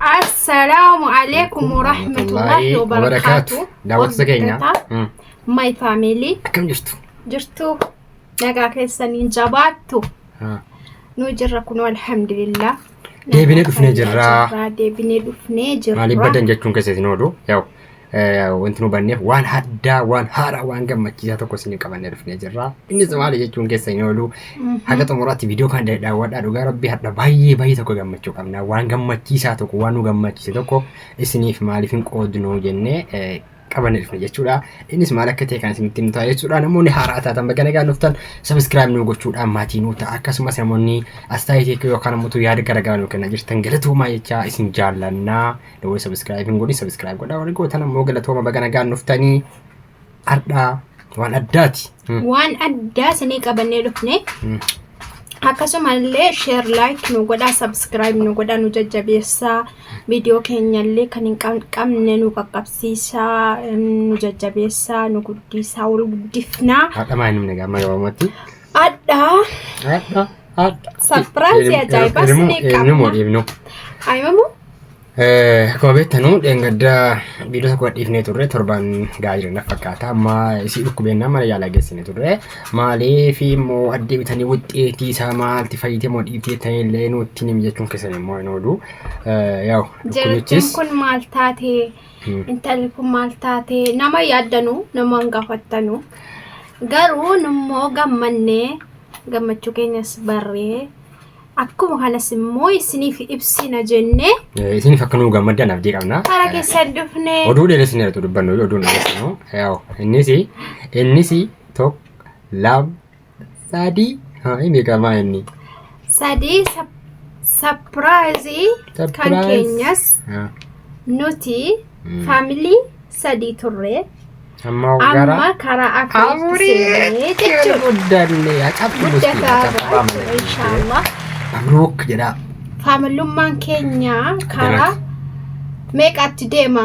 Assalaamu alaikum warahmatullahi wabarakaatu. Daawwattoota keenya. Mm. My family Akkam jirtu? jirtu nagaa keessaniin jabaattu Ah. nu jirra kunoo alhamdulillah. Deebinee dhufnee jirra. Deebinee dhufnee jirra. Maaliif badan jechuun keessa isin oolu? Yaa'u wanti nu hubanneef waan addaa waan haaraa waan gammachiisaa tokko isin qabannee dhufnee jirra. Innis maali jechuun keessa hin oolu haga xumuraatti viidiyoo kan daawwadhaa dhugaa rabbii hadha baay'ee baay'ee tokko gammachuu qabna waan gammachiisaa tokko waan nu gammachiise tokko isiniif maaliif hin qoodnu jennee qabannee dhufne jechuudha. Innis maal akka ta'e kan isinitti himnu ta'a jechuudha. Namoonni haaraa taatan baga nagaan dhuftan sabiskiraayib nu gochuudhaan maatii nu ta'a. Akkasumas namoonni astaayitii yookaan ammoo yaada garaagaraa nu kennaa jirtan galatoomaa jechaa isin jaallannaa. Dawoo subscribe hin godhin subscribe godhaa warri gootan ammoo galatooma baga nagaan dhuftanii hardhaa waan addaati. Hmm. Waan addaa isinii qabannee dhufne. Hmm. Akkasumallee share like nu godhaa subscribe nu godhaa nu jajjabeessaa viidiyoo keenyallee kan hin qabne nu qaqqabsiisaa nu jajjabeessaa nu guddisaa wal guddifnaa. Haadha maa hin himne gaamma gabaamatti. Adhaa. Adha. Adha. Sapiraayizii ajaa'ibaa sinii qabna. Eenyumoo dhiifnu. Ayimamoo? Akkuma beektanu dheengaddaa viidiyoo tokko dhiifnee turre torbaan gahaa jiran fakkaata. Amma isii dhukkubeennaa mana yaalaa geessine turre. Maaliif immoo addee bitanii wuxxeetii isaa maalti fayyite moo dhiibtee ta'e illee nutti himi jechuun keessan immoo hin oolu. Yaa'u Jartiin dhukkubichis kun maal taatee? intalli kun maal taate nama yaaddanu nama hin gaafattanu garuu nummoo gammannee gammachuu keenyas barree akkuma kanas immoo isiniif ibsina jennee Eh, Isiniif akka nuu gammaddan abdii qabna. karaa keessan dhufne Oduu dheeressin irratti dubbannu oduu dheeressinu. Yaa'u innis innis tokko lama Sadii. Haa hin beekamaa inni. Sadii sapiraayizii kan Surprise. keenyas Haa. nuti Mm. faamilii sadii turre Amma amma gara karaa afuriitti afurii seenee jechuudha. guddanne acabni Guddataa jira jechuudha inshaallah. Mabruuk jedhaa. Faamilummaan keenya karaa meeqatti deema?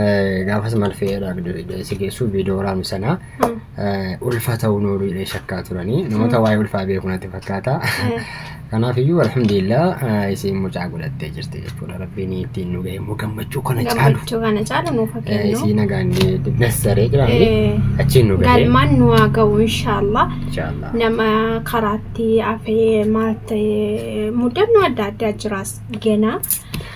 Eh, gaafas maal fe'eedha si geessu viidiyoo waraabni sanaa eh, ulfa ta'uu nooluu jedhee shakkaa turanii namoota waa'ee ulfaa beeku natti fakkaata kanaaf iyyuu alhamdulillah eh, isiin mucaa godhattee jirti jechuudha rabbiin ittiin nu ga'e immoo gammachuu kana caalu gammachuu kana caalu nuuf Eh, kennu isii nagaan dassaree jiraanii Eh, achiin nu ga'e galmaan nu haa ga'u inshaallah inshaallah nama karaatti hafee maal ta'e mudannoo adda addaa jiraas gena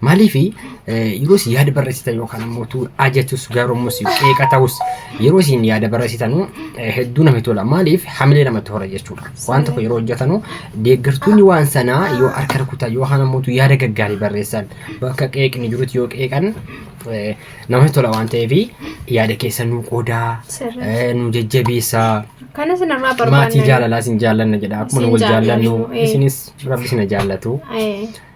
Maaliif yeroo isin yaada barreessitan yookaan ammoo tu ajatus gaarummus qeeqa ta'us yeroo isin yaada barreessitan hedduu namatti tola. Maaliif hamilee namatti hora jechuudha. Waan tokko yeroo hojjetanu deeggartoonni waan sanaa yoo harka rukutan yookaan ammoo tu yaada gaggaarii barreessan bakka qeeqni jirutti yoo qeeqan eh, namatti tola waan ta'eef yaada keessa nu qoodaa Sirrii. eh, nu jajjabeessaa. Kanas namaa maatii barbaanna. jaalalaa isin jaallanna jedha akkuma nu Isin wal jaallannu jaallannu, eh. isinis rabbi isin jaallatu Eh,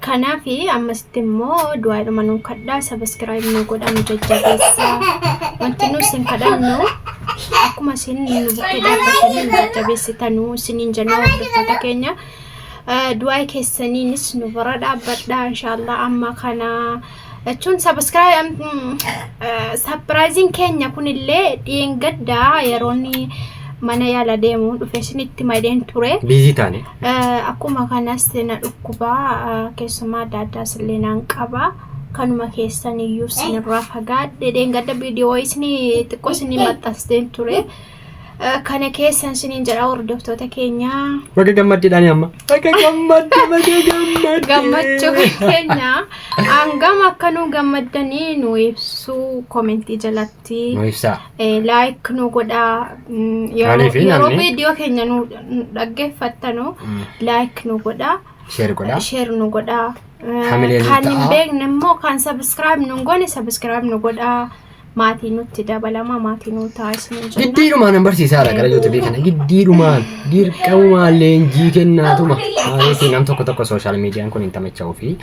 Kanaaf ammasitti immoo du'aadhuma nuu kadhaa sabiskiraayib nuu godhaa nu jajjabeessaa wanti nu isin kadhannu akkuma isin nu bukkee dhaabbatanii nu jajjabeessitanuu isiniin jennaa hordoftoota keenya du'aa keessaniinis nu bira dhaabbadhaa inshaallah amma kana jechuun sapiraayiziin keenya kunillee dheengaddaa yeroon mana yaala deemu dhufe isinitti madeen ture. Biizii taane. Akkuma kanas na dhukkubaa keessumaa adda addaas illee naan qaba. Kanuma keessan iyyuu isinirraa fagaadhe dheengadda viidiyoo isinii xiqqoo isinii maxxansteen ture. kana keessan siniin jedha hordoftoota keenya. Baga gammaddeedhaan amma. Baga gammadde baga gammadde. Gammachuu keenya hangam akka nu gammaddanii nu ibsuu komentii jalatti Nu ibsaa. laayik nu godhaa Mm, yeroo Maaliif yeroo namni- viidiyoo keenya nu nu dhaggeeffattanu laayik nu godhaa Sheer godhaa. sheer nu godhaa Eh, Hamilee nu kan hin ta'a. beekne immoo kan sabiskiraayib nu hin goone sabiskiraayib nu godhaa maatii nutti dabalama maatii nuu ta'a isin jenna. Giddiidhumaan hin barsiisaa jira gara YouTube kana giddiidhumaan dirqamumaan leenjii kennaatuma maaliitiin nam tokko tokko sooshaal miidiyaan kun hin tamacha'uu fi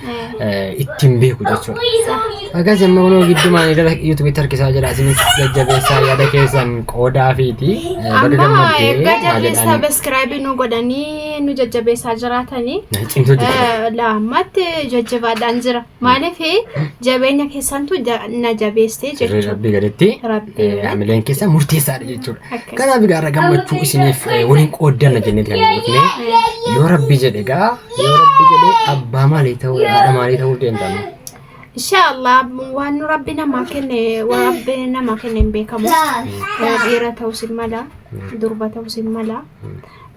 Eh, ittiin beeku jechuudha. Akkas amma kunoo giddumaan gara YouTubetti harkisaa jira isinis jajjabeessaa yaada keessan qoodaa fiiti baga Amma gammaddee egaa maa jarri jedhaan sabiskiraabii nu godhanii nu jajjabeessaa jiraatanii cimtuu jechuudha. eh, laammatti jajjabaadhaan jira. Maaliif jabeenya keessantu ja- na jabeessee Sirrii jechuudha. rabbii gaditti Rabbii. eh, hamileen keessa murteessaadha jechuudha. Akkas. Kanaaf egaa irra gammachuu isiniif eh, waliin qooddanna jennee kan dhufne yoo rabbii jedhe egaa yoo rabbii jedhe abbaa maalii ta'uu haadha maalii ta'uu deemtamu. Inshaallah waan nu rabbi namaa kenne waan rabbi namaa kenne hin beekamu. Dhiira ta'us hin mala, durba ta'us hin mala.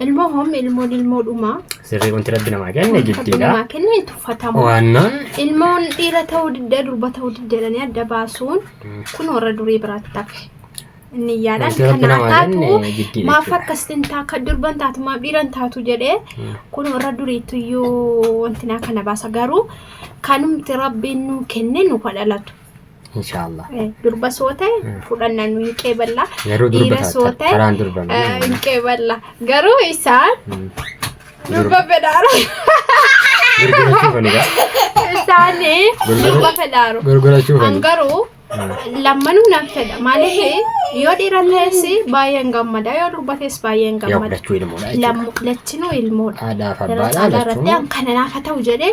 Ilmoo hom ilmoon ilmoo dhumaa. Sirrii wanti rabbi namaa kenne Rabbi jiddiidha. namaa kenne hin tuffatamu. Waannoon Ilmoon dhiira ta'uu didda durba ta'uu didda jedhanii adda baasuun kun warra durii biraatti tafe. Inni yaadaan wanti rabbi kanaa namaa taatu kenne jiddiidha maaf jechuudha. akkas hin taa kan durban taatu maaf dhiiran taatu jedhee kun warra duriitu iyyuu wanti naa kana baasa garuu kanumti rabbiin nuu kenne nu kadhalatu. Inshaallah. Eh, durba soo ta'e Mm. fudhannaan nu hin qeeballa Garuu durba dhiira soo taata. ta'e Karaan durba. eh, hin qeeballa garuu isaan Mm. durba fedhaara Gurgurachuu fanidha. isaan Gurgura- durba fedhaaru Gurgurachuu an fani. garuu lammanuu nan fedha maaliif yoo dhiira ta'es baay'een gammada yoo durba ta'es baay'een Yaa gammada fudhachuu ilmoodha jechuudha. Lammu- lachinuu ilmoodha Haadhaaf Irratti abbaadha alaarratti lachuun. an kana naafa ta'u jedhee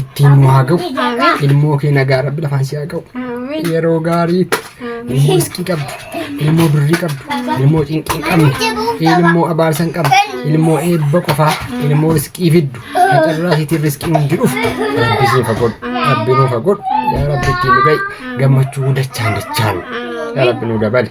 ittiin nu haa ga'u ilmoo kee nagaa rabbi lafaan si haa ga'u yeroo gaarii ilmoo iskii qabdu ilmoo birrii qabdu ilmoo cinqii qabdu ilmoo abaarsan qabdu ilmoo eebba qofaa ilmoo iskii fiddu carraa siitiin riskii hundi dhufu rabbi siin fagodhu rabbi nuu fagodhu yaa rabbi ittiin nu ga'i gammachuu dachaan dachaan yaa rabbi nuu dabali.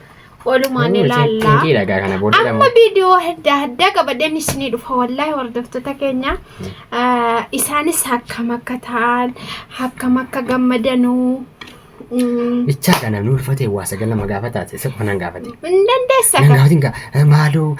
Walumaan ilaallaa. Xiinqiidha gaa kana booddee Amma dhamuu. viidiyoo adda addaa qabadeen isinii dhufa wallaahi hordoftoota keenya Ah, isaanis akkam akka ta'an akkam akka gammadanuu mm, Bichaa kana nu ulfatee waa sagal nama gaafataati isa qofa nan gaafate. hin dandeessa Nan gaafatin gaa maaloo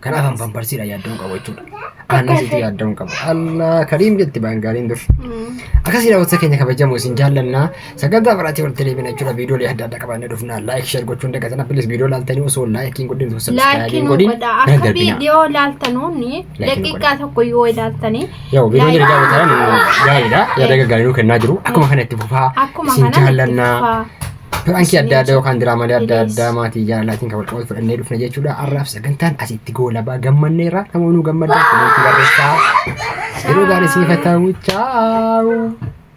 Kanaaf an pamparsiidha yaaddoon qabu jechuudha. Aannan sitti yaaddoon qabu. Allah kariim jetti baangaaliin dur. Akkasii daawwatsa keenya kabajamu isin jaallannaa sagantaa biraatii walitti deebina jechuudha viidiyoolee adda addaa qabannee dhufna laayik sheer gochuun dagatina pilis viidiyoo laaltanii osoo laayikiin godhin osoo sabskiraayibiin Laakiin godhin godha na akka darbina. viidiyoo ilaaltanuun Laakiin daqiiqaa tokko yoo ilaaltanii Yoo viidiyoon jiru daawwatan gaariidha yaada gaggaarii nuu kennaa jiru akkuma kana itti fufaa akkuma isin kana itti jaallannaa. fufaa. Piraankii adda addaa yookaan diraamaalee adda addaa maatii jaalalaatiin kan walqabatu fudhannee dhufna jechuudha. Har'aaf sagantaan asitti goolabaa gammanneerra. Namoonni gammaddan kunuunsi barreessaa. Yeroo gaarii siif haa ta'u. Chaawu.